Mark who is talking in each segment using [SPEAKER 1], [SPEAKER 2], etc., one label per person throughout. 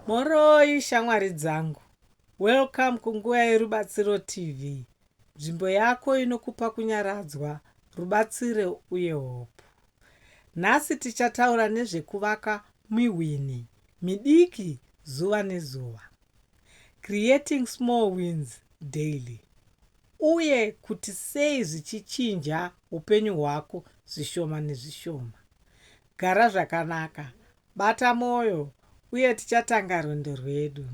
[SPEAKER 1] Mhoroi shamwari dzangu. Welcome kunguva yerubatsiro TV. Nzvimbo yako inokupa kunyaradzwa, rubatsiro uye hope. Nhasi tichataura nezvekuvaka mihwini midiki zuva nezuva. Creating small wins daily. Uye kuti sei zvichichinja upenyu hwako zvishoma nezvishoma. Gara zvakanaka, bata mwoyo, uye tichatanga rwendo rwedu.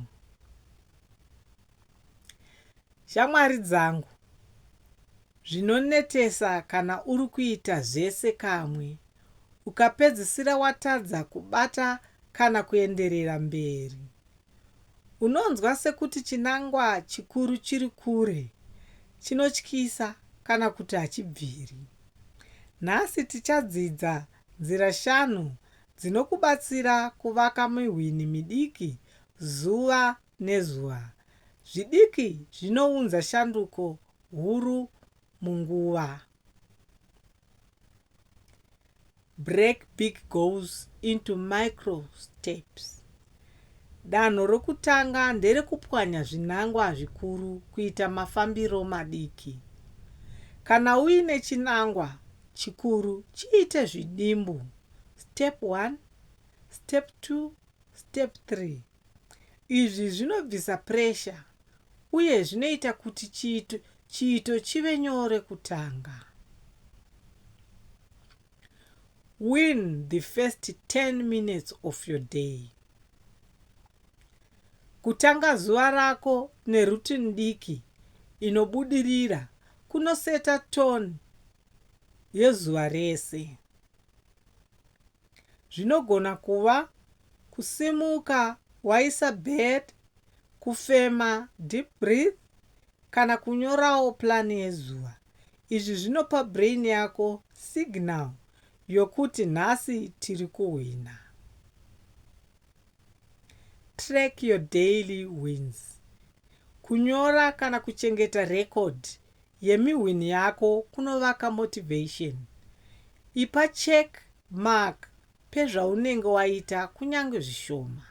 [SPEAKER 1] Shamwari dzangu, zvinonetesa kana uri kuita zvese kamwe ukapedzisira watadza kubata kana kuenderera mberi. Unonzwa sekuti chinangwa chikuru chiri kure, chinotyisa, kana kuti hachibviri. Nhasi tichadzidza nzira shanu dzinokubatsira kuvaka mihwini midiki zuva nezuva. Zvidiki zvinounza shanduko huru munguva. Break big goals into micro steps. Danho rokutanga nderekupwanya zvinangwa zvikuru kuita mafambiro madiki. Kana uine chinangwa chikuru, chiite zvidimbu, step 1, step 2, step 3. Izvi zvinobvisa puresha uye zvinoita kuti chiito chiito chive nyore kutanga. Win the first 10 minutes of your day. Kutanga zuva rako neroutine diki inobudirira kunoseta tone yezuva rese. Zvinogona kuva kusimuka waisa bed, kufema, deep breath, kana kunyorawo plan yezuva. Izvi zvinopa brain yako signal yokuti nhasi tiri kuhwina. Track your daily wins. Kunyora kana kuchengeta record yemihwini yako kunovaka motivation. Ipa check mark pezvaunenge waita kunyange zvishoma.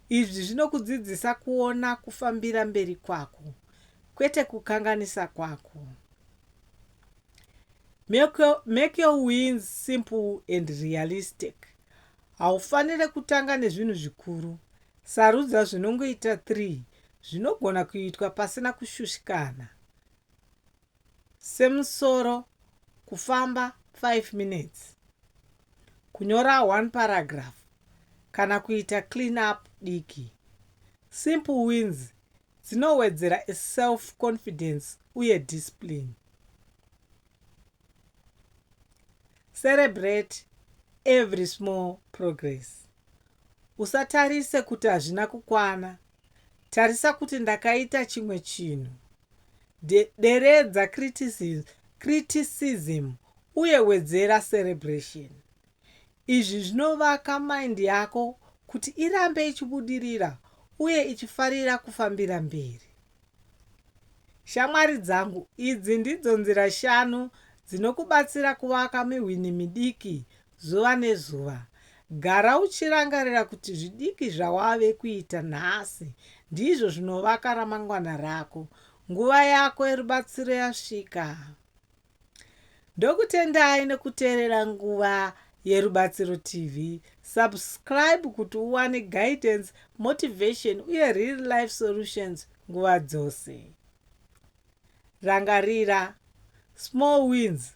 [SPEAKER 1] Izvi zvinokudzidzisa kuona kufambira mberi kwako kwete kukanganisa kwako. Make your, make your wins simple and realistic. Haufanire kutanga nezvinhu zvikuru. Sarudza zvinongoita 3 zvinogona kuitwa pasina kushushikana. semusoro kufamba 5 minutes kunyora one paragraph kana kuita clean up diki simple wins dzinowedzera self confidence uye discipline celebrate every small progress usatarise kuti hazvina kukwana tarisa kuti ndakaita chimwe chinhu De, deredza criticism, criticism uye wedzera cerebration. Izvi zvinovaka mind yako kuti irambe ichibudirira uye ichifarira kufambira mberi. Shamwari dzangu, idzi ndidzo nzira shanu dzinokubatsira kuvaka mihwini midiki Zuva nezuva, gara uchirangarira kuti zvidiki zvawave kuita nhasi ndizvo zvinovaka ramangwana rako. Nguva yako yerubatsiro yasvika. Ndokutendai nekuteerera Nguva Yerubatsiro TV. Subscribe kuti uwane guidance, motivation uye real life solutions nguva dzose. Rangarira, Small wins